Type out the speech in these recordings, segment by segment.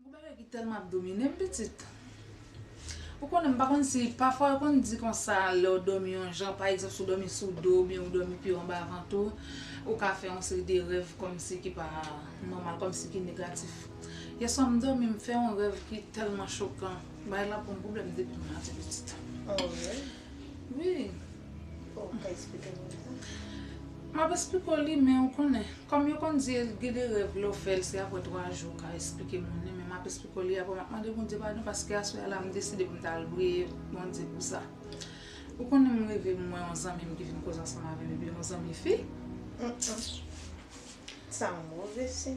Gou bagay ki tèlman ap domine m pitit. Ou konnen m pa konn si pafwa yo konn di konsa lè w dòmi yon jan pa egzanp si w dòmi sou do oubyen ou dòmi pye w anba vant ou, ou ka fè yon seri de rèv kòmsi ki pa nòmal, kòmsi ki negatif. Yeswa m domi m fè yon rèv ki tèlman chokan bagay la banm problèm depi m mati pitit. Oh really? Wi. Oh ou ka esplike nou sa? Map esplike w li men ou konnen kòm yo konn di gen de rèv lè w fè l se aprè 3 jou ou ka esplike moun li men map esplike w li aprè map mande Bondye padon paske aswè a la m deside pou m ta al priye Bondye pou sa. Ou konnen m reve m wè yon zanmi m ki vin koze ansanm avè m epi yon zanmi fi. Sa move siy.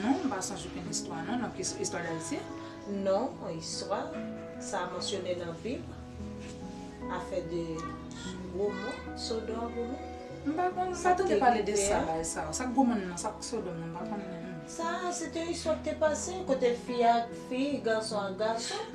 Non, m pa sonj okenn istwa non nan istwa dayiti. Non, istwa sa mansyone nan bib afè de gomo, sodom ak gomo. M pa konn, m pa tande pale de sa la sa. Sa k gomo nan, sa k sodom nan m pa konn. Sa se te istwa k te pase kote fi ak fi, gason ak gason.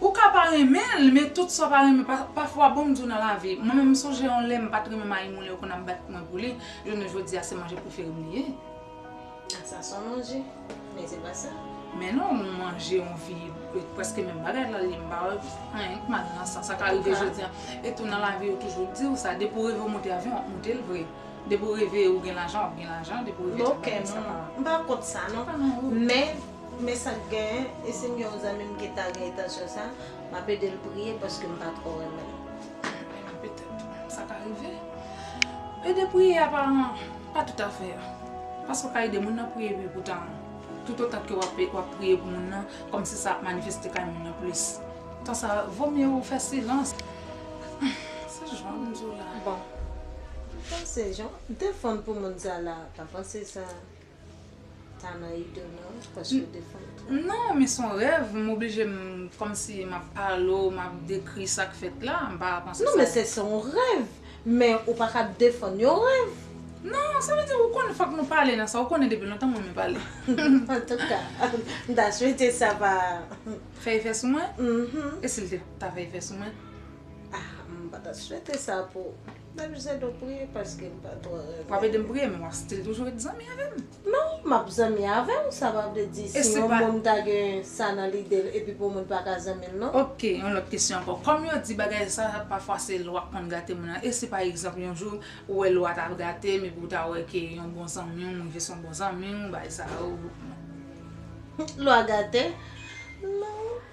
Ou ka pa renmen l men tout sa w pa renmen pafwa bon m di w nan lavi mwen menm m sonje yon lè m pat renmen mayi moulen yo konn ap bat mwen pou li jounen jodi a se manje prefere m li ye. Ah sa son manje men se pa sa. Men non yon manje yon vi preske menm bagay lal ye m pa wè anyen ki mal nan sa sa ka rive jodi a e tou nan lavi yo toujou di w sa depi w reve w monte avyon wap monte l vre depi w reve ou gen lajan wap gen lajan depi w reve m pa kont sa non men Pou mè sa k gen, e si m gen yon zanmi m ki ta gen etansyon sa, m ap ede l priye paske m pa twò renmen l. Apenav petèt sa ka rive. Ede priye a pa pa toutafè. Paske w ka ede moun nan priye epi poutan toutotan ke w ap w ap priye pou moun nan kòmsi sa ap manifeste kay moun nan plis. Tan sa vo mye ou fè silans. Se jan m di w la. Bon. M panse jan. Defann pou moun sa la. Pa panse sa. Ta nan idl nan wi paske w defann twòp. Non men son rèv m oblije m kòmsi map pale w map dekri sak fèt la m pa panse sa. Non men se son rèv men ou pa ka defann yon rèv. Non sa vle di ou konn fòk nou pale nan sa ou konnen depi lontan m renmen pale. Antouka m ta swete sa pa. Fè efè sou mwen? E si l te ta fè efè sou mwen? Ah m pa ta swete sa pou. Map jis ede w priye paske m pa twò renmen. Wap ede m priye men wap stil toujou ret zanmi avè m. Non, map zanmi avè w sa pa vle di si yon moun ta gen sa nan lide l epi pou moun paka zanmi l non. Ok, yon lòt kesyon ankò. Kòm yo di bagay sa pafwa se lwa k konn gate moun nan e si pa egzanp yon jou ou wè lwa ta gate m epi w ta wè ke yon bon zanmi w m rive son bon zanmi w bay sa ou. Lwa gate? Non.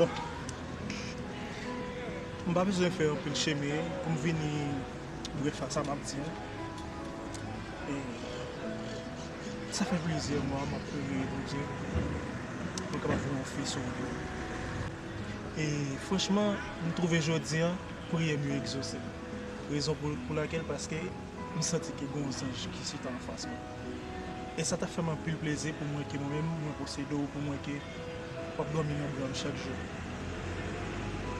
Bon m pa bezwen fè anpil chemen pou m vini bref a sa m ap di yo. E sa fè plizyè mwa m ap priye Bondye pou l kapab fè m yon fi sou wout mwen. E franchman m twouve jodi a priyè m yo egzose. Rezon pou lakèl paske. M santi ke gen yon zanj ki chita anfas mwen. E sa ta fè m anpil plezi pou m wè ke mwen menm mwen posede w pou m wè ke w ap dòmi nan bra m chak jou.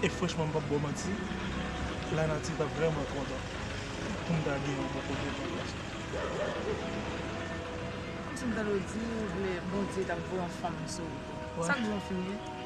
E franchman m p ap ba w manti, lanati t ap vrèman kontan pou m ta genyen w bò kote m nan plas la. Kòmsi m tande w di ou vle Bondye ta voye yon fanm sou ou. Sa k di w an fim ye?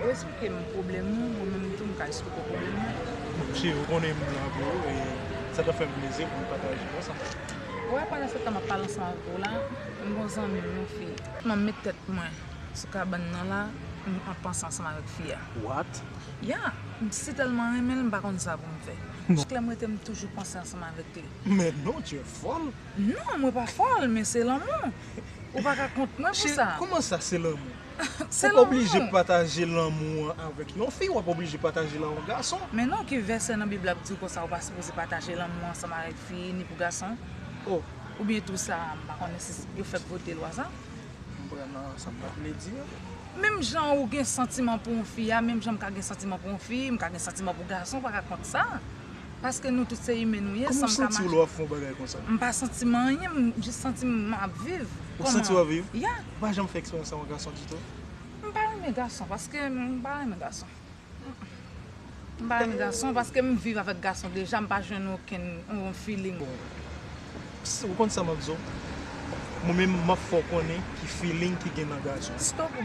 Ou esplike m pwoblèm ou, mwen menm tou m ka esplike w pwoblèm mwen. Ok, ou konnen m la pou ou e sa ta fè m plezi pou m pataje konsa. Ou wè pandan se tan m ap pale ansanm avèk ou la, m gon zanmi m yon fi. M ap met tèt mwen sou kabann nan la, m ap panse ansanm avèk fi a. What? Ya, m si tèlman renmen l m pa konn sa pou m fè. Chak lè m rete m toujou panse ansanm avèk li. Men non, tu es folle! Non, mwen pa fòl, men se lanmou. Ou pa ka kont mwen pou sa. Cheri, kouman sa se lanmou? Se lanmou. Ou oblije pataje lanmou an avèk yon fi, wap oblije pataje l a yon gason. Men non ki vèsè nan bib la k diw konsa ou pa sipoze pataje lanmou ansanm avèk fi ni pou gason. Ou byen tou sa a m pa konnen si yo fèk vote lwa sa. Konprann nan sa m ta vle di an. Menm jan ou gen santiman pou yon fi a menm jan m ka gen santiman pou yon fi, m ka gen santiman pou gason pa ka kont sa. Paske nou tout se imen nou ye. Kouman w santi w lè w ap fè yon bagay konsa? M pa santi m anyen, m jis santi m m ap viv. Ou santi w ap viv? Ya. Ou pa janm fè eksperyans sa w yon gason ditou? M pa renmen gason paske m pa renmen gason. M pa renmen gason paske m viv avèk gason deja m pa jwenn okenn yon feeling. Ou konn sa m ap di w? Mwen menm m ap fè w konnen ki feeling ki gen nan gason. Stop!